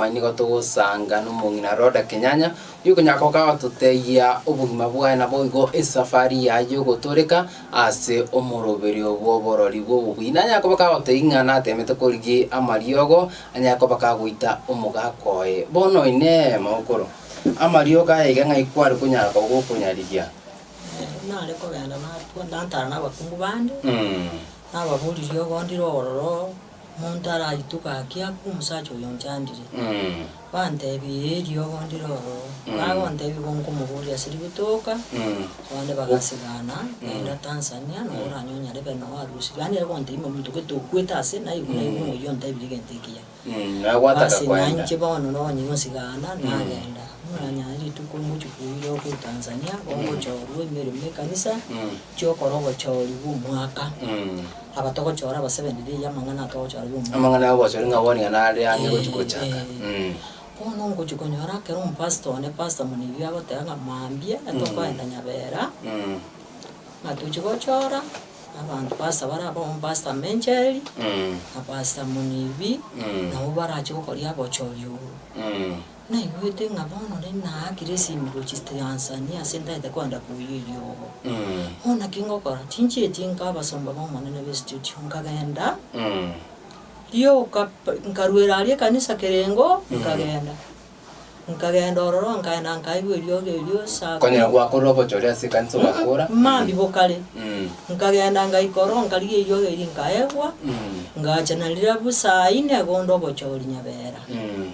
Mambia nigo togosanga nomong'ina Rhoda Kenyanya, oyio okonyara goka gototebia obogima bwaye naboigo esafari yaye yogotoreka ase omoroberio bw'oborori bw'obobui. Nanyare koba kagotebia ng'a natemete korigia amariogo, anyare koba kagoita omogaka oye. Bono oinee mogokoro, amariogo aya iga ng'ai kware konyara koba gokonyarigia? nare kogenda natwa- natara nabakungu bande, Nababoria riogo ndire ororo. Omonto araitwe gaki akwe omosacha oyo onchandire. Banteebie, Ee, riogo ndire ororo. Bagonteebia, Bonkomoboria ase ributa oka, abande bagasigana, genda Tanzania, nabo oranyonyare be noo arusirie. Yaani ere gonteebia buna omonto gete okwete ase, naigu naigu ng'a oyio ontebirie egento ekiya. Basi nainche bono nabo onye gosigana, nagenda. Buna onye aye rituko ngochia koira okwo Tanzania, bongochorwa emeremo y'ekanisa, nchia okora obochori bw'omwaka. Aba togochora abasebeniri eyi amang'ana atogochora bia omorembe. Amang'ana y'obochori ng'a bono yane are ang'e gochia gochaka. Eeh. Bono ngochia konyora ekero omopastor one, pastor Munibio agoteba ng'a mambia tokoenda Nyabera, ng'a tochia gochora abanto pastor bare abwo abamo pastor Mencheri, na pastor Munibi, nabo barache gokoria obochori obo. Naigwete ng'a bono nari naakire esimigwe chisito yansani ase ntaete koenda koyia eriogo. Bono naki ngokora, tinchieti inka abasomba b'Omonene be studio, nkagenda, rioka nkaruera aria ekanisa kereng'o, nkagenda. Nkagenda ororo nkaenda nkaigwa eriogo erio saa kumi. Konyora gwakora ogocha ore ase ekanisa ogakora. Maambia bokare. Nkagenda ngaika ororo nkarigia eriogo erio nkaegwa, ngacha na rirobu saa ine igo onde obochori nyabera.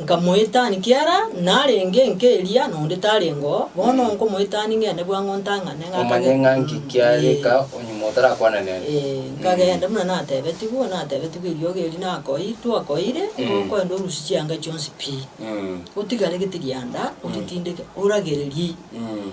Nkamoetani kiara narenge enka eria, na onde tarengo, bono nkomoetani ngende bwango ntang'ane Omanye ng'akagenda. ng'a nki kiareka Ee. onyuma otarakwana nere. Ee, nkagenda buna natebetigwe, natebetigwe eriogi eri nakoi, twakoire, igo Mm. okoenda orusie chianga chionsi pi, Mm. otigare gete rianda, oritindeke, oragererie. Mm.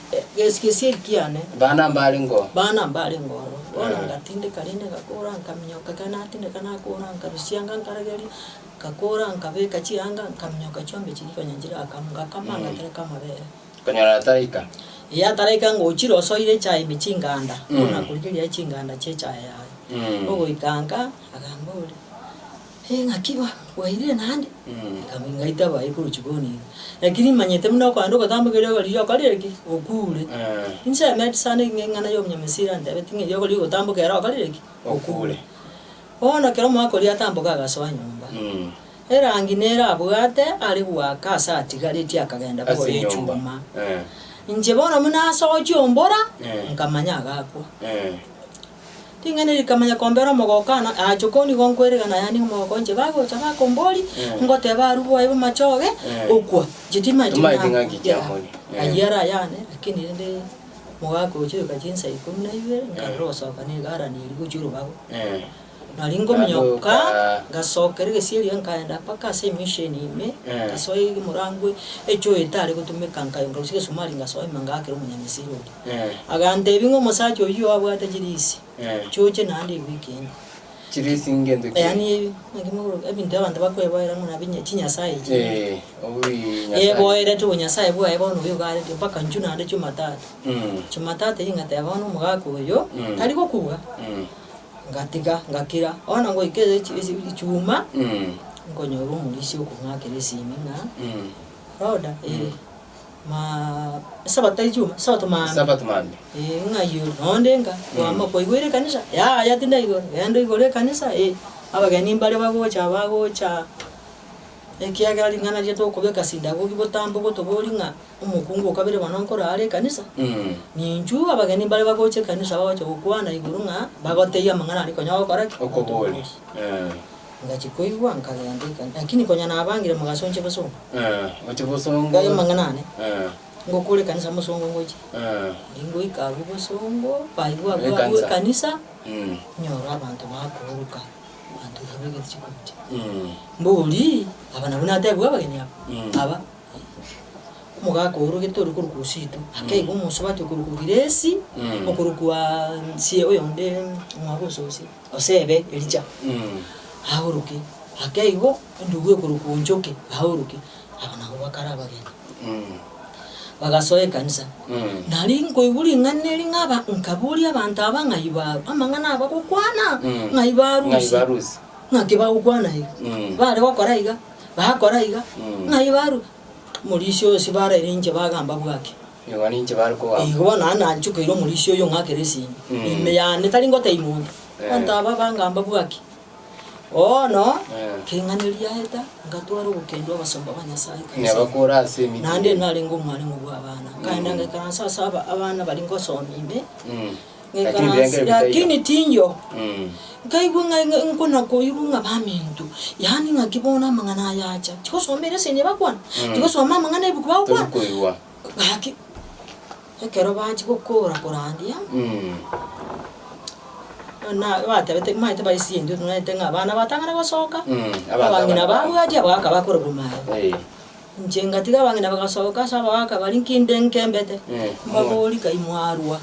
Gesigesie kiane. Bana mbare ngo. Bana mbare ngo oro. Bono ngatindeka rende ngakora nkaminyoka ekero natindeka nakora nkarosianga nkarageria, nkakora nkabeka chihanga nkaminyoka chiombe chiria konya nchirakamwe ngakama ngatereka amabere. Konyora ataraika. Ee ataraika ngochire osoire echae ime chinganda, bono nakorigereria chinganda chia echae yaye. Ogoika nka, akamboria. Engaki ba gwairire naende, ekaba ingaito abaye korwa chikoni iga. Naki rimanyete buna okoenda ogotamba ekerio riroba riria okorire ki? Okuure. Inche emeti sana eki ng'eng'ana y'Omunyamisiri antebeti ng'a erio okorire gotamboka ere okorire ki? Okuure. Bono ekero omogaka oria atamboka agasoa nyomba, erangi nere abwate are goaka ase atigaretie akagenda bore echuma. Inche bono buna asochie ombora, nkamanya agakwa. Ring'ana eri rikamanya kombera omogokano, aachia okoniga onkwerigana aye aniga omogoko onche. Bagocha bakombori, ngoteba arwe bwaye bamache oge okwa, inche timaeti Timaeti ng'aki kia mori. Eh. Ayio ere ayane, lakini rende mogaka ogochia oyoka chinsa ikomi na ibere, nkarora ogosoka na egarani eria gochia orobago. Eh. Nari ngominyoka, Agoka- ngasokera egesieri iga nkaenda mpaka ase emisheni ime, Eh. ngasoa ege morango echoyo etare gotumeka, nka- nkarusia egesumari ngasoima ngaakera omonyamasiri oria. Agantebi ng'a omosacha oyio abwate chirisi chioche naende ewiki ende. Chirisi ngento ki? Yaani naki mogoroka ebinto abanto bakweboera ng'a nabi nya- chinyasae echi. Ee, obi Nyasae. Eboerete obonyasae bwaye bono obuya ogaretire mpaka inchu naende Jumatatu. Mm. Jumatatu eyio ngateba bono omogaka oyio Mm. tari gokuga. Mm. Ngatiga ngakira. Bono ngoika echi- echi- Ijumaa Mm. nkonyora omorisia okong'akera esimi ng'a Mm. Rhoda, ee. Maa Esabato tari chuma, Esabato maambia. Esabato maambia. Ee, ng'ai oyo? Noonde nka, kwama kwaigwere ekanisa? Yaya, tindi naigwa. Genda oigore ekanisa, ee. Abageni mbare bagocha, bagocha, ekiagera ring'ana riria tokobeka sinagogi botambe ogotobori ng'a omokungu o kabere bono nkorwa are ekanisa, ninchu abageni mbare bagocha ekanisa bagocha gokwana igoro ng'a bagotebia amang'ana aria konya ogokora ki? Okoboria. Ee. Ngachia koigwa nkagenda eka. Lakini konya nabangire mogasonchia bosongo. Gochia bosongo. Ngaya amang'ana ane. Ngokora ekanisa mosongo ngochia. Riria ngoika abwo bosongo, baigwa abwo abwo ekanisa, nyora abanto bakooroka, abanto iga baigete chikumi chio. Mbori, aba nabwo natebigwe abageni aba? Aba. Omogaka oorogete ore korokwa Osito, akaigwa omosubati okorokwa Grace, okorokwa sie oyonde omwabo o Sosie. Gose ebe Elija aoroke, ake igo endubu ekorokwa onchoke aoroke, aba nabo bakare abageni. Bagasoa ekanisa. Nari nkoigwa ring'ana eri ng'aba, nkaboria abanto aba ng'a iba amang'ana aba gokwana ng'a iba arusi, naki bagokwana iga. Bare gokora iga, bakora iga, ng'a iba aru. Morisia oyo sibaraire inche bagamba bwaki. Nigo ninche bare kobamba. Igo bono naende nanchokeire omorisia oyo ng'akere esini Mm. ime yane, tari ngoteima onde. Eh. Abanto aba bangamba bwaki? Bono Eh. keng'ane riaeta, ngatwara ogokendwa abasomba ba Nyasae Neba ekanisa. kore ase emiti. Naende narenge omwareng'u bw'abana, nkaenda ngaikaransa ase aba- abana baria ngosomia ime, Mm. Lakini birenge Nikaransi, ebitaiyo. lakini tinyo. Mm. Nkaigwa ng'a ng'a nkonakoirwa ng'a baminto, yaani ng'a ki bono amang'ana aya acha? Tigosoma eresion eye bakwana? Tigosoma amang'ana ebuku bagokwana? Torikoigwa. Gaki, ekero bachia gokora korandia, Mm. na batabete maete baisie intwe tong'aete ng'a abana batang'ana gosoka, Mm, abanto abang'ina abana babo. babwati abwo bakaba bakorwa maye. Eh. Inche ngatiga abang'ina bagasoka ase abagaaka baria nki inde nkembete, mbabori, Kai mwarua?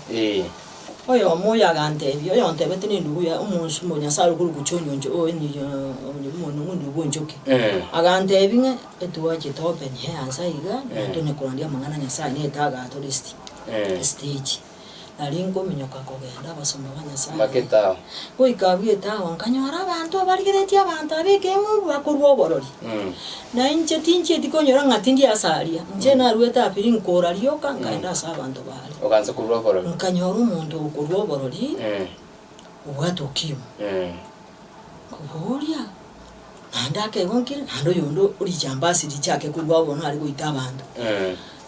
Oyomo oyo aganteebia, Oyontebete nendugu ya omonsu o Nyasae okorokwa John oncho oe niyo omonyene bw'endugu enchoki. Aganteebia ng'a etwachie topenye ense aiga, na tonye korandia amang'ana a Nyasae na etagato, list, esiteji. nario inkominyoka kogenda abasomba ba Nyasaye. Goika abwo etaao nkanyora abanto abarigeretie abanto aba ekeng'umbu bakorua oborori. Na inche tinchieti konyora ng'a tindi ase aria, inche naruete apiri nkoora rioka nkaenda ase abanto baria. Nkanyora omonto okorua oborori obwate ukimwi. Obogoria, naende akegonkera, naende oyonde o richambasi richaake korwa ao bono are goita abanto.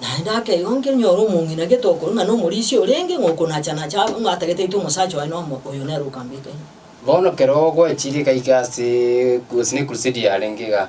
Naende akegonkera, nyora omong'ina gete okorwa ng'a nomorisia orenge, ng'a okonacha-nacha aba, ng'a atagete aite omosacha oye na omo, oyo nere okambeka ime. Bono kero goechire gaika ase gose ne ekurusedi yarenge igaa,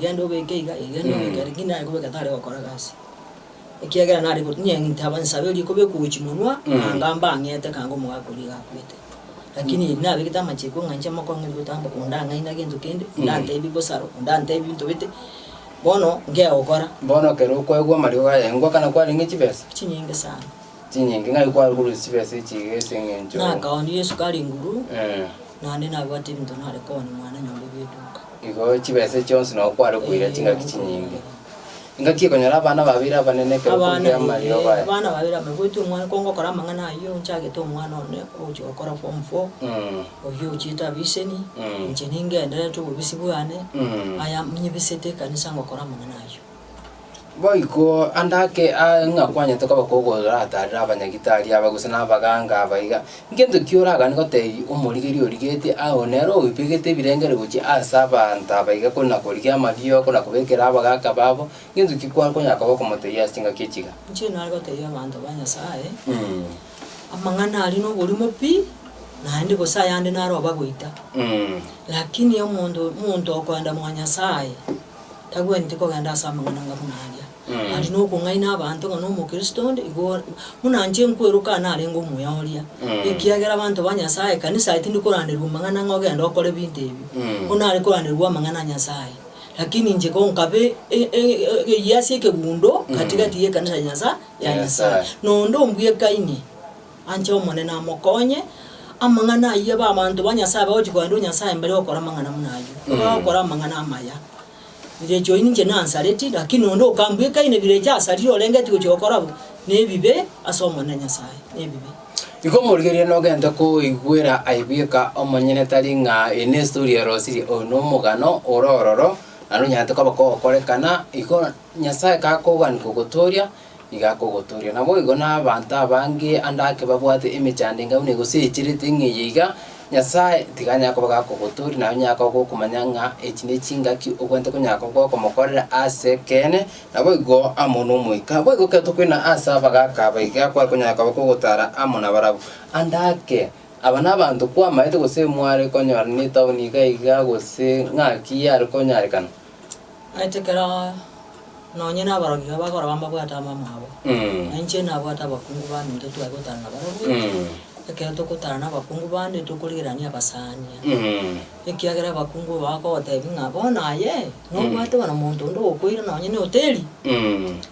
Genda obeke iga, iga genda obeke iga, lakini naye kobeka tare gokora gasi, ekiagera nare go- inye ntaba nsaberie kobekwa gochia monwa, Mm. anga mbang'ete anga omogaka oria iga akwete. Lakini eri nabegete amachiko ng'a inche mokong'e gotamba, onde ang'aina gento kende, onde Mm. antebi bosaro, onde antebi binto bete, bono nkegokora, Bono ekero okoegwa amariogo aya, engwa kana kwarenge chibesa? chinyinge sana. chinyinki, ng'ai kwarurusia chibesa echi iga ase engencho? Nakaonire esukari enguru, Eh, naende nabwate ebinto nare koonia mwananyomba bw'eduka. igo chibesa echi chionsi nabo kware koira Eh, chingaki chinyinge. Ingaki ekonyora abana babere abanene ekero Abana, okorusia amariogo eh, aya. abana babere aba, goetwa omwana, kongokora amang'ana ayio, nchagete omwana one ogochia gokora form four, Mm, oyio ochiete abiseni, Mm. inche ningendererete obobisi bwane, mm. aya nyibisete ekanisa ngokora amang'ana ayio. Boiko ande ake aa ng'a kwanyete koba kogoratarera abanyagitari aba gose na abaganga aba iga, ngento ki oragane goteebia omorigerio origetie agwo nere oibegete ebirengeri gochia ase abanto aba iga kore na korigia amariiko na kobekera abagaka babo, ngento ki kware konya koba okomotebia ase chingaki echi iga? Inche nare gotebia abanto ba Nyasae, amang'ana aria noborimo pi, naende gose ayande nare obagoita. Lakini omonto omonto okoenda mwa Nyasae, Tagwenereti kogenda ase amang'ana ng'a buna aria, naende nokong'aina abanto ng'a nomokristo onde, igo buna inche nkweroka aye narenge omuya oria, ekiagera abanto ba Nyasaye, ekanisa yaye tindi koranderigwa amang'ana ng'a ogende okore ebinto ebi, bono nare koranderigwa amang'ana a Nyasaye. Lakini inche ko nkabe e- e- egeyia ase ekegundo gati gati y'ekanisa ya Nyasaye, ya Nyasaye, na onde ombwekaine. Anche Omonene amokonye. Amang'ana ayio ba abanto ba Nyasae bagochia kogenda o Nyasae mbere gokora amang'ana buna ayio. Bagokora amang'ana amaya. Birecha oyi ninche nansareti, lakini onde okambua ekai ne birecha asarire orengeti gochia gokora bo, nebibe ase Omonene Nyasae, nebibe. Igo morigereria nogente koigwera aye bweka omonyene tari ng'a eye nestori ya rosiria, oyo nomogano ore ororo, na nonyarete koba kogokorekana, igo Nyasae kakoganika ogotooria, igakogotooria. Naboigo nabaanto abange ande ake babwate emechando enga buna egoseecherete ng'a eye iga, Nyasae tiga anyare koba gakogotooria, naye onyare koba gokomanya ng'a echi nechingaki obwenerete konyara koba gokomokorera as'ekeene, naboigo amo n'Omoika. Boigo ekero tokoina ase abagaaka aba iga, kware konyara koba kogotara amo nabarabwo. Ande ake, aba nabaanto kwamaete gose mware konyora netaoni iga iga gose ng'aki yare konyarekana? Nainche ekero nonye nabarabwo iga bakorora bamabwate amamwabo, na inche nabwate abakungu bande intwe twaye gotana nabarabwo, ekero togotana nabakungu bande tokorigerania abasaania, ekiagera abakungu abo bagogotebia ng'a bono aye, nobwate bono monto onde ogokoira nonye na ehoteri,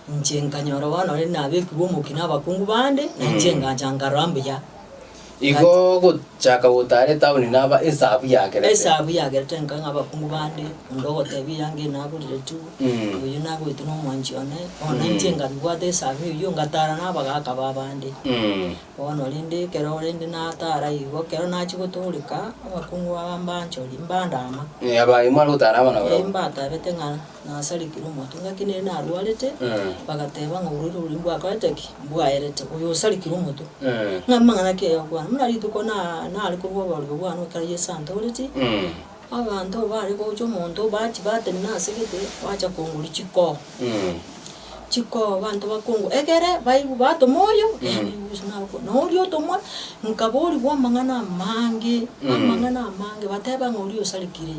inche nkanyora bono ore nabekirwe omokia nabakungu bande, nainche engancha nkarora mbuya. Igo gochaka gotaara etaoni naba esabu yagerete. Esabu yagerete nka ng'abakungu bande, onde ogotebia eanga eye nagorire tu, Mm. oyio nagoetwe nomwanchi one, bono inche Mm. ngabibwata esabu eyio ngataara nabagaaka b'abande. Mm. Bono rende ekero rende nataara igo, ekero nachia gotooreka, abakungu aba mbanchori, mbandaama. Eh, abayi mware gotaara amo naboro. Eh, mbatabete ng'a. nasarigire omotwe, nere narwarete, bagateba ng'a orwaire oboronge bwakorete ki? Bwaerete, oyo osarigire omotwe. Ng'a amang'ana ki aya okwana? Buna rituko na- nare korwa obororigwa bwane ekero Yeso antoretie, abanto bare gocha omonto bachi batenena ase egete, bacha kongoria chikoo, chikoo abanto bakongo egere baigu batoma oyo, na oria otomwa, nkaborigwa amang'ana amange, amang'ana amange, bateba ng'a oria osarigire.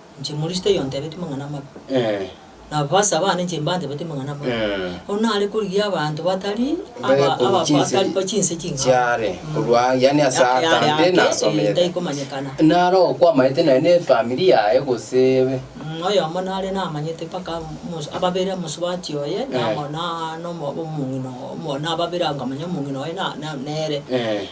Inche Moristo oyo ntebetie mang'ana amabe, na abaabasi abane inche mbantebetie mang'ana amabe. Bono nare korigia abanto batari aba- aba- abataribo chinse ching'ao. chiare korwa aa, yaani ase Yare ake, atambe eh, nasomete taikomanyekana. nare okwamaete naye ne efamiri yaye gose ebe Mm, oyomo nare namanyete mpaka omosu- ababere omosubati oye na Eh. amo- na- na omo- omong'ina omo- na ababere nkamanya omong'ina oye na- na- nere. Eh.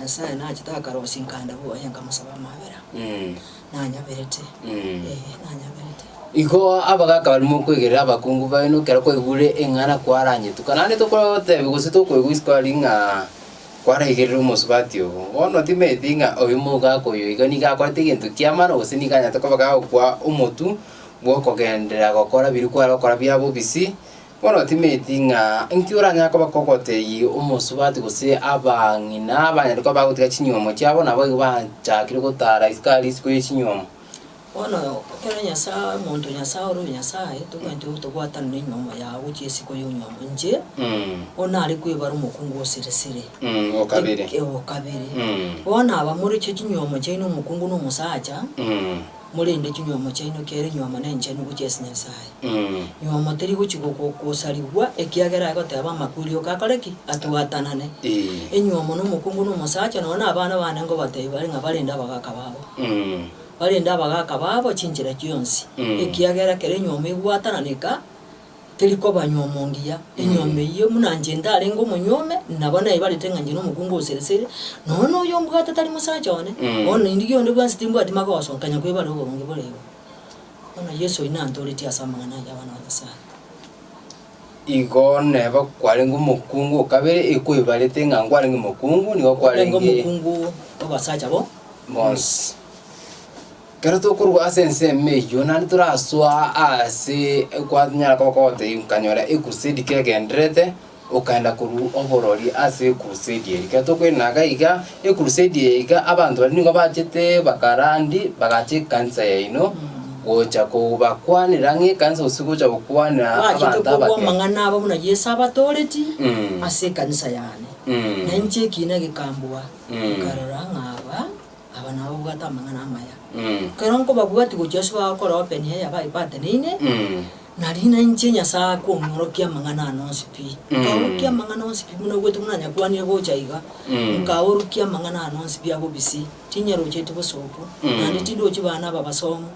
Nyasae nachete akarosia nkande bwoye nkamosabe amabera. Nanyaberete. Ee, nanyaberete. Igo abagaaka barimo okwegerera abakungu baino ekero kwaigure eng'ana kwaranyetuka. Naende tokotebi gose tokoigwa isiko aria ng'a kwaraigerire omosubati obo. Bono timanyeti ng'a oyo mogaaka oyo iga nigo akorete egento kiamano gose nigo anyarete koba gagokwa omotu bwokogenderera gokora biri kware gokora bia bobisi. Bono timanyeti ng'a inki oranyare koba kogoteyie omosubati gose abang'ina abanyare koba bagotiga chinyuomo chiabo, naboigo bachakire gotara isiko aria isiko ye chinyuomo. Bono ekero Nyasae, omonto o Nyasae ore o Nyasae, tobwenerete gotobwatanera enyuomo yao gochia isiko y'onyuomo. Inche, Mm, o nare kwebara omokungu o siri siri. mm, o kabere. Eki- o kabere. Mm, Bono abamoretie chinyuomo chiaino omokungu na omosacha, mm, Morende chinywomo chiaino kiaire nywomo nenchenu gochia ase Nyasae. Nywomo teri gochia goko gosarigwa ekiagera agoteeba amakweri ok akore ki? Atwatanane. Enywomo nomokungu nomosacha nonya na abana bane ngobatebi bare ng'a barende abagaka babo. Barende abagaka babo chinchera chionsi ekiagera kera enywomo egwatananeka Teri kobanywa omongiya enyomba eyio, buna inche ndarenge omonywa ome, nabo naibarete ng'a inche nomokungu o sere sere, nonya noyio ombwate tari mosacha one, bono naindigie onde bwensi timbwati magoso, nkanya kwebara oboronge bore igo. Bono Yeso oyio nantooretie ase amang'ana ayio abana ba Nyasae. Igo neba kwarenge omokungu o kabere, ekwebarete ng'a nkwarenge omokungu, nigo Orenge kwarenge omokungu obasacha bo. bonsi. Ekero tokorwa ase ensemo eyio, naende torasoa aase kwanyara goka ogotebia nkanyora ekurusedi kegendererete, okagenda korwa oborori ase ekurusedi eria. Ekero tokoinaga iga ekurusedi eye iga abanto baria nigo bachete bakarandi bagacha ekanisa yaino, gocha kobakwanera ng'a ekanisa gose gocha gokwanera Bachete abanto korwa abake. amang'ana abo buna Yeso abatooretie Mm. ase ekanisa yane. Na Mm. inche ekiina gekambua, Mm. nkarora ng'a aba Aba nabo babwate amang'ana amaya. Ekero nkobabwatia gochia ase bagokora open eya baipateneine, na riina inche Nyasae akong'orokia amang'ana ano onsi pi. Nkaorokia amang'ana onsi pi buna oboete buna nyakwanire gocha iga, nkaorokia amang'ana ano onsi pi abo bisi, tinyerocheti bosoku, naende tindochi baane aba basomu.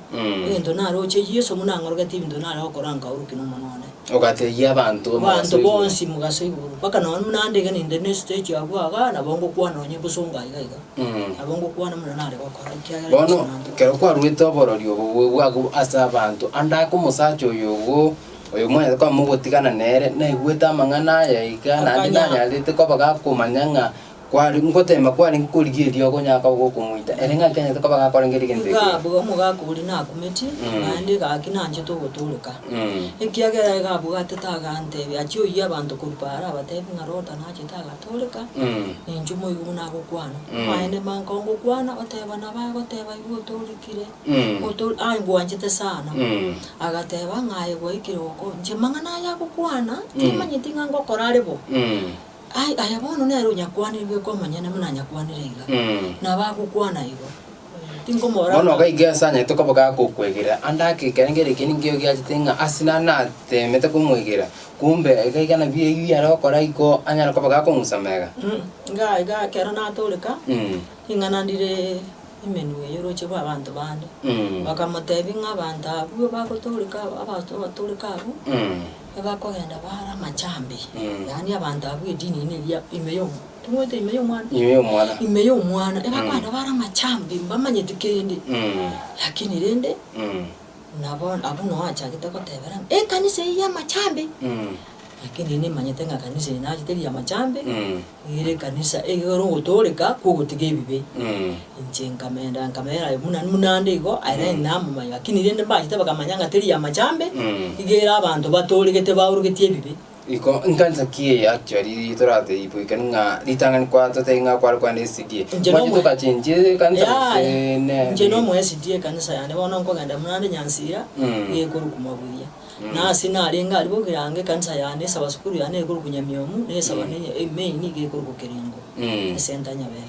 Egento naroche Yeso buna ang'oroketie ebinto nare gokora nkaorokia nomonwa one. Ogatebia abanto omogaso Abanto igoro. bonsi mogaso igoro, mpaka nonye buna ande iga ninde ne stage abwo iga, nabo ngokwana onye bosongo aiga iga. Mm. Nabo ngokwana muna nare gokora, ekiagera Bono Yeso nantogete. ekero kwaruete oborori obo bwe- bw'ago ase abanto, ande ake omosacha oyo ogo, oyo mwanyete koba mogotigana nere, naigwete amang'ana aya iga, naende Akanya- nanyarete koba gakomanya ng'a kware ngoteema kwarenge korigereria okonyara koba gokomoita, ere ng'a kianyarete koba gakorengera egento Iga ekeya. abwo omogaka oria nakumetie, Mm. naende egaki nanchete ogotooroka. Mm. Ekiagera egabwatete aganteebia, achia oyia abanto korwa Baara abateebie ng'a Lota nachete aga, Toreka, ninche omoigu buna agokwana. Amaene manka ongokwana, oteba nabo agoteba igo otorikire, oto aye ngwanchete sana. Agateba ng'a aye gwaikire goko, inche amang'ana aya agokwana, timanyeti ng'a ngokora are bo. Ai, aya bono nere onyakwanire bweka omonyene buna anyakwanire iga, nabo agokwana igo. Bono gaiga ense anyarete koba gakokwegera, ande ake ekerengo eke ninkio giachete ng'a ase nare nateemete komwegera, kumbe egaiga nabio eyio are gokora igo anyare koba gakong'usa mega? Inga iga ekero natooreka, Mm, ring'ana ndire Himeneo y'orooche rw'abanto bande. mm, Bakamoteebia ng'a abanto abwo bagotooreka aba, abato abatooreka abwo, mm, nibakogenda baare amachambi, mm. yaani abanto abwo edini niga ime y'omo- Timwete ime y'omwana. Ime y'omwana. Ime y'omwana. Ebakwana bare amachambi, mbamanyeti kende. Lakini rende, nabo abwo noe achagete goteberana, ekanisa eye y'amachambi. Lakini ere nimanyete ng'a ekanisa eye naye teri y'amachambi, ere ekanisa eyore ogotooreka kw'ogotiga ebibe. Inche nkamenda nkamera aye buna buna ande igo, aye namomanya. Lakini rende mbachete bakamanya ng'a teri y'amachambi, iga ere abanto batooregete baorogetie ebibe. Iko nkansa ki eye actually ri torateebwe ekero ng'a ritang'ani kwa totebi ng'a kware kogenda SDA. Inche Mwache nomo- tokachenchie ekansa Yaya, gose ne. inche nomo SDA ekanisa yane bono nkogenda buna ande Nyansira Mm. iga ekorwa Kumaburia. Mm. Na ase narenge aria bokiranga ekanisa yane esaba sukuru yane ekorwa Kunyamiomu, nesaba Mm. ne- e- main iga ekorwa Kerengo, Mm. esenta Nyabera.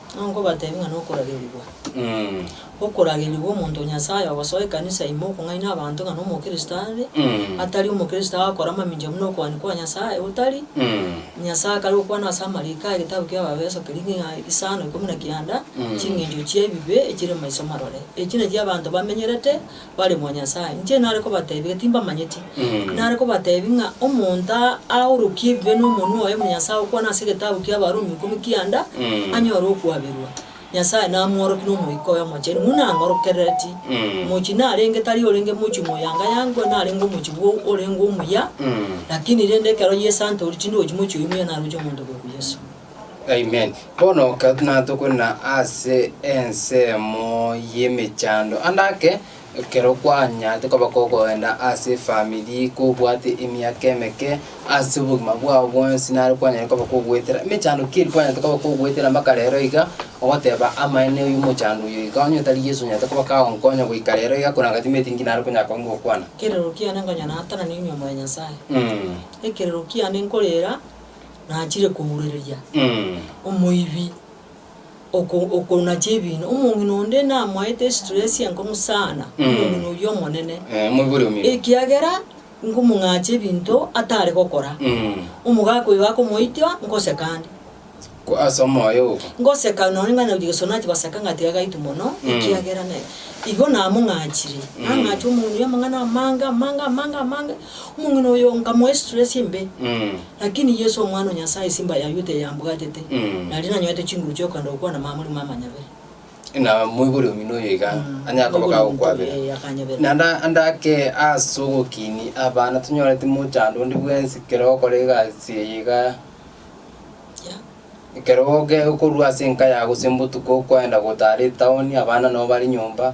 Ng'a nkobateebie ng'a nokoragerigwa, okoragerigwa omonto o Nyasae ogosoa ekanisa ime okong'aini abanto ng'a nomokristo are, atari omokristo agakora mamincha buna okoani kwa Nyasae otari, Nyasae akare gokwana ase amariiko aye egetabu ki'Abaefeso keria ng'a isano ikomi na kianda, ching'encho chi'ebibe echire maiso marore. Echi nachi abanto bamenyerete. Baremo a Nyasae, inche nare kobateebia, timbamanyeti. Nare kobateebia ng'a omonto aorokie ebibe nomonwa oye, Omonyasae okwana ase egetabu ki'Abarumi ikomi kianda, anyore okwaberwa. Nyasae namworokie n'Omoika oye Omochenu, buna ang'orokerereti. Mochi narenge tari orenge mochi moyangayangwe, narenge omochi bwo orenge omuya, lakini rende ekero Yeso antoorire, tindochi mochi oyio muya, naroche omonto bweka Yeso. Amen. Bono ka natokwenena ase ensemo y'emechando, ande ake, ekero kwanyarete koba kogoenda ase efamiri, kobwate emiaka emeke ase obogima bwao bwonsi, nare kwanyare koba kogwetera emechando ki eri kwanyarete koba kogwetera mpaka rero iga, ogoteba amaene oyu omochando oyo iga, onye tari Yeso onyarete koba kagonkonya goika rero iga, korende anga timaeti inki nare konyara koba ngokwana. Ekerero kiane ngonya natanane inwe more Nyasae. Mm. Ekerero kiane nkorera. nachire kourereria omoibi oko okonacha ebiina, omong'ina onde namoete estress enkongu sana, Mm. omong'ina oyio omonene, Eh, omoibi oria omino. ekiagera nkomong'acha ebinto atare gokora. Mm. Omogaka oyo gakomoitia ngoseka ande, Ko- ase omoyo ogo. ngoseka nonye ng'a naruti gesona chibasaka ng'a tiga gaitu mono, Mm. ekiagera ne igo namong'achire, Mm. nang'acha omong'ina oyio amang'ana amange amange amange amange. Omong'ina oyo nkamoa estress embe. Lakini Yesu Omwana o Nyasae simba yaywo teyambwatete, nario nanyorete chinguru chi'okogenda gokwana mamori mamanyabera. Ng'a moibori omino oyo iga anyare koba kagokwabera. Ee, akanyabera. Naende ande ake ase ogokiini abana tonyoreti mochando onde bwensi ekero ogokora egasi eye iga Yeah. ekero oge okorwa ase enka yago ase botuko okoenda gotara etown abana nabo bare nyomba.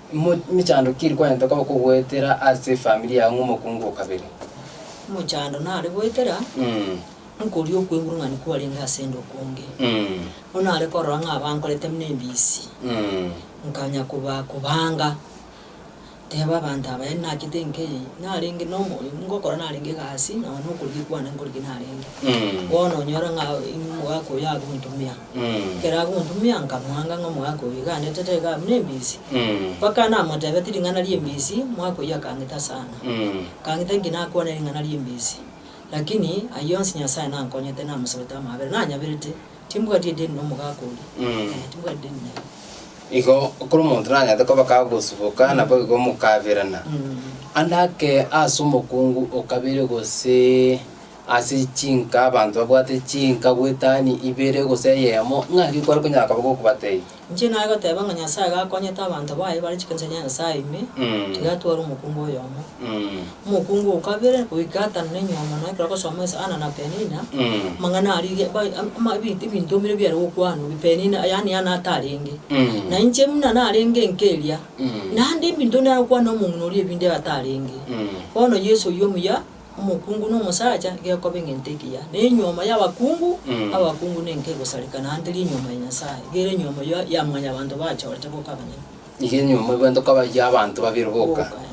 Momochando ki rikonyete koba kogoetera ase efamiri yago ng'a omokungu o kabere? Omochando nare goetera nkoria okwenguru ng'a nikwo arenge ase 'nde okonge. Bono nare korora ng'a abankorete buna ebisi, nkanya koba kobanga, teba abanto aba yaani nagete nka eye, narenge na omo ngokora narenge egasi, nonya na okorigwa kwane nkorigwe narenge. Bono onyora ng'a omogaka oyo agontumia. Ekero agontumia, nkamwanga ng'a omogaka oyio igaanete taiga abwo nembisi. Mpaka namotebetie ring'ana ri'embisi, omogaka oyio akang'ita sana. Akang'ita inki nakwane ring'ana ri'embisi. Lakini ayio onsi Nyasae nankonyete namosabete amaabera, nanyaberete, timbwati edeni nomogaka oria, ee, timbwati edeni naye. Igo ekero omonto nanyarete koba kagosuboka, nabo igo mokaberana. Ande ake ase omokungu o kabere gose. ase chinka abanto babwate chinka gw'etani ibere gose eyemo, ng'aki kware konyara koba gokobateebia? Inche naye goteba ng'a Nyasaye gakonyete abanto baye bare chikanisa chia Nyasaye ime, Mm. tiga atware omokungu oyomo. Mm. Omokungu o kabere goika gatano na inyomo naye ekero agosoma ase Anna na Penina, Mm. amang'ana aria ge- ba- am- ama- ebi- ebinto bire biare gokwanwa, Penina yaani Anna atarenge. Mm. Na inche buna narenge enka eria, Mm. naende ebinto nare gokwana omong'ina oria ebinde atarenge. Mm. Bono Yeso oyio omuya omokungu na omosacha gekoba egento ekiya, na enyuomo y'abakungu abakungu nenka egosarekana ante rinyuomo ya Nyasae, gere enyuomo ya ya mwanyabanto bachorete boka abanyene. Nigo enyuomo egwete koba ya abanto babere boka. Boka, eh.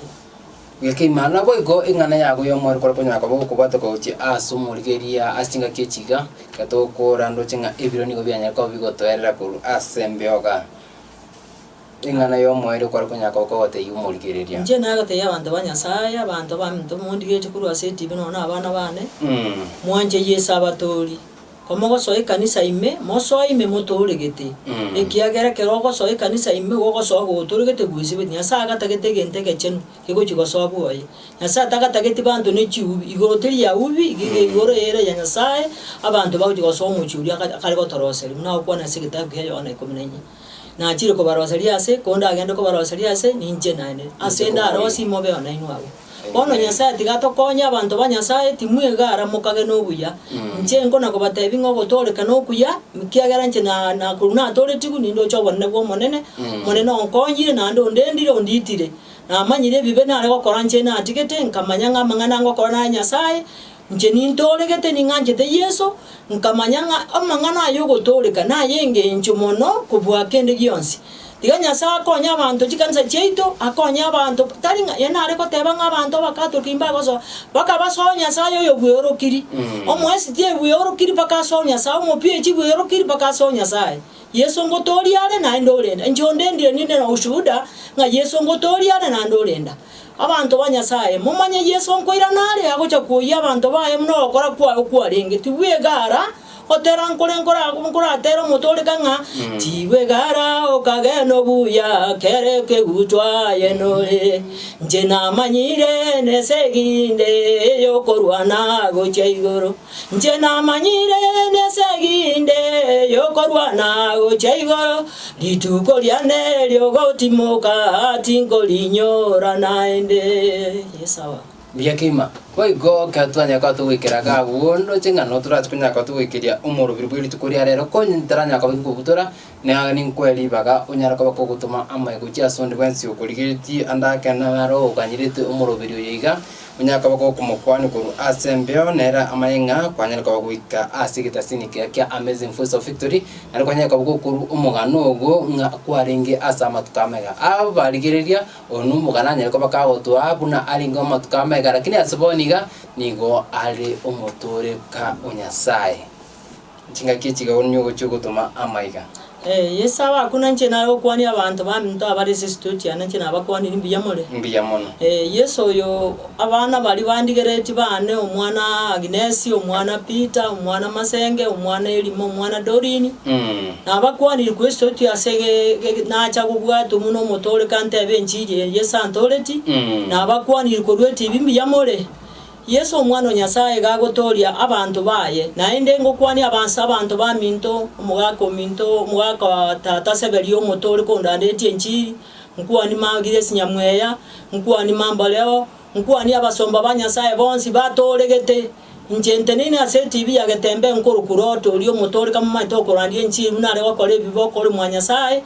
Gekeima naboigo eng'ana yago y'omorero ekore konyara koba ogokobwata gochia ase omorigeria ase chingaki echi iga, ekero togokora ndoche ng'a ebiro nigo bianyare koba bigotoerera korwa ase embeoga. Ring'ana y'omoerio kware konyaka goka gotaiga omorigereria. Inche nagotebia abanto ba Nyasae, abanto baminto mondigetie korwa ase etibi nonya nabana bane, Mwanche Yeso abatoori. Komogosoa ekanisa ime, mosoe ime motooregete, ekiagera ekero ogosoa ekanisa ime igo ogosoa gotooregete gwesibeti. Nyasae agatagete egento egechenu kegochia gosoa bwoye. Nyasae tagatageti banto ne chiubi. Igoro teri ya ubi, iga ege igoro ere ya Nyasae, abanto bagochia gosoa omochie oria akare gotoroseria, buna agokwana ase egetabu kia Yohana ikomi na inye. Nachire kobaroseria aase, konde agende kobaroseria aase, ninche naende. Ase ndarosie imobeo nainwe abwo. Bono Nyasae tiga atokonye abanto ba Nyasae, timwega ara mokage nobuya. Inche nkona kobatebi ng'a ogotooreka nokuya, ekiagera inche na na korwa natooretigwe nindoche obonene bw'Omonene, Omonene onkonyire naende ondendire, ondiitire. Namanyire ebibe nare gokora inche natigete, nkamanya ng'a amang'ana ngokora naya Nyasae, Inche nintooregete ning'anchete Yeso, nkamanya ng'a amang'ana aye ogotooreka nay'engencho mono kobua kende gionsi. Tiga Nyasae akonye abanto chikanisa chiaito, akonye abanto, tari ng'a yaani nare goteba ng'a abanto Abakatoliki mbagosoa, mpaka basoe Nyasae oyobweorokiri, Omoesiti ebweorokiri mpaka asoe Nyasae, Omopiechi bweorokiri mpaka asoe Nyasae. Yeso ngotooria are naende orenda. Inche onde ndire ninde na ushuhuda ng'a Yeso ngotooria are naende orenda. Abanto ba Nyasaye, momanye Yeso nkoirana are agocha kwoyia abanto baye buna ogokora kwaye okwarenge, tibwegara, gotera nkore nkoratere omotoreka ng'a tibwegara okagena obuya kere ekegutu aye nore. Inche namanyire nesegi inde eyokorwana gochia igoro. Inche namanyire nesegi inde yokorwana gochia igoro, rituko riane riogotimoka tinkorinyora naende. Yes, our. Mbuya keima. Boigo ekero twanyare koba togoikera iga abwo, ndoche ng'a nabo torache konyara koba togoikeria omorobiri bwe rituko ria rero, konya taranyara koba tokobutora, Na aya ninkoe ribaga onyare koba kogotoma amaye gochia ase onde bwensi okorigeretie ande ake na are oganyerete omoroberi oyo iga, onyare koba gokomokwania korwa ase embeo, na ere amanye ng'a kwanyare koba goika ase egetasini keye kia Amazing Voice of Victory, naende kwanyare koba gokorwa omogano ogo ng'a kwarenge ase amatuko amega. Aba barigereria, oyo nomogano anyare koba kagotoa buna arenge amatuko amega, lakini ase bono iga nigo are omotoreka o Nyasae. Chingaki echi igao nigo gochia gotoma amaiga. Ee, Yeso abakunanche naye gokwania abanto baminto abare ase esitoti aa, nainche nabakwaniri mbuya more. Mbuya mono. Ee, Yeso oyo abana baria bandigeretie baane, omwana Agnesi, omwana Peter, omwana Masenge, omwana Elima, omwana Doreen, nabakwaniri korwa esitoti ase ge-ge-ge nacha gobwatwa buna omotoorekwa ntebe enchiri eye Yeso antooretie, nabakwaniri korwa etibi mbuya more. Yeso Omwana o Nyasae iga agotooria abanto baye, naende ngokwania abansa abanto baminto, omogaka ominto, omogaka o tata Seberi omoto ore kondanderetie enchiri, nkwanie magiria esinyamweya, nkwanie mamboreo, nkwanie abasomba ba Nyasae bonsi batooregete. Inche nteneine ase etibi ya getembe nkorokwa Roti oria omoto ore kamomanyete okorandia enchiri buna are gokora ebibe okore mwa Nyasae,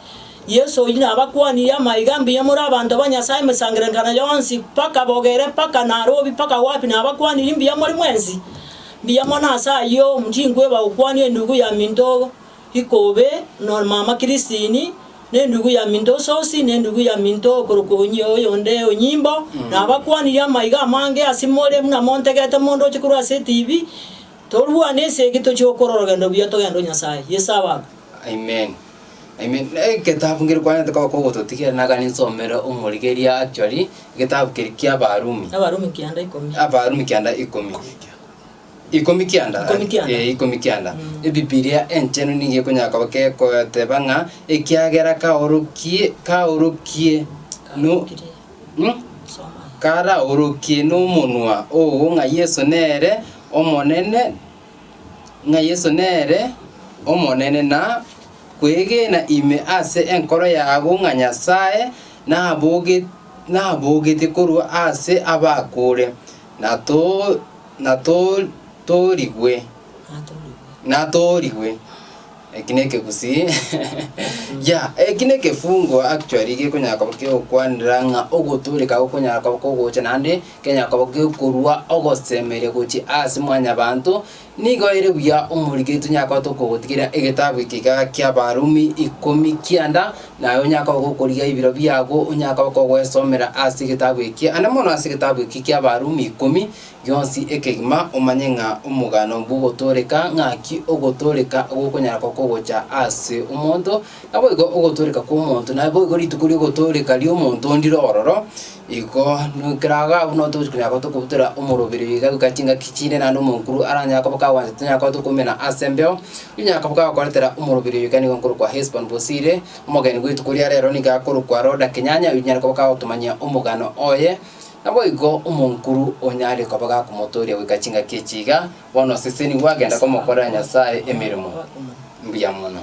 Yeso oyio nabakwanirie amaiga, Mbuya more abanto ba Nyasae emesangererekano yonsi, mpaka bogere, mpaka Narobi, mpaka wapi, nabakwanirie mbuya more mwensi. Mbuya mono ase ayio, mutikoeba gokwania endugu ya minto ikobe, na omama Kristini, na endugu ya minto ososi, na endugu ya minto okorokwa onye oyonde onyimbo. Nabakwanirie amaiga amange ase more, buna montegete omonto oche korwa ase etibi, Torwane esegi, tochie gokora orogendo buya togende o Nyasae. Yeso abaakwe. Amen. Amen. Na egetabu ngeria kwanete koba kogototigera naga ninsomere omorigeria actually egetabu keria ki'Abarumi. Abarumi kianda ikomi. Abarumi kianda ikomi. Ikomi kianda. Ikomi kianda. Eh, ikomi kianda. Mm. Ebibilia enchenu nigo ekonyara koba kekoteba ng'a ekiagera kaorokie kaorokie no Hmm? Soma. karaorokie n'omonwa oo ng'a Yeso nere Omonene ng'a Yeso nere Omonene, na kwegena ime ase enkoro yabo ng'a Nyasae nabogetie korwa ase abakure, natoorigwe. Eki nekegusii yeah eki nekefungo actually gekonyara koba kegokwanera ng'a ogotooreka gokonyara koba kogocha naende kenyara koba gekorwa ogosemeria gochia ase mwanyabanto nigo ere buya omorike tonyara koba tokogotigera egetabu eke iga kiabarumi ikomi kianda naye onyara koba gokorigia ebiro biago onyara koba kogwesomera ase egetabu eki ande mono ase egetabu eki kiabarumi ikomi gionsi ekegima, omanye ng'a omogano bw'ogotooreka ng'aki ogotooreka gokonyara kokogocha ase omonto, naboigo ogotooreka kw'omonto naboigo rituko ri'ogotooreka ri'omonto ndire ororo, igo nu- keraga abwo nabo togochi konyara gotoka kobutera omoroberi iga goika chingaki chinde naende omonkuru aranyare koba kagwanchete tonyara koba tokoumena ase embeo, onyara koba kagokoretera omoroberi oyo iga nigo nkorokwa Hesbon bosire, omogeni bw'etuko ria rero nigo akorokwa Roda Kenyanya, oyio nyare koba kagotomanyia omogano oye. Naboigo omonkuru onyare koba gakomotooria goika chingaki echi iga, bono oseseni gwagenda komokorera Nyasae emeremo. Mbuya mono.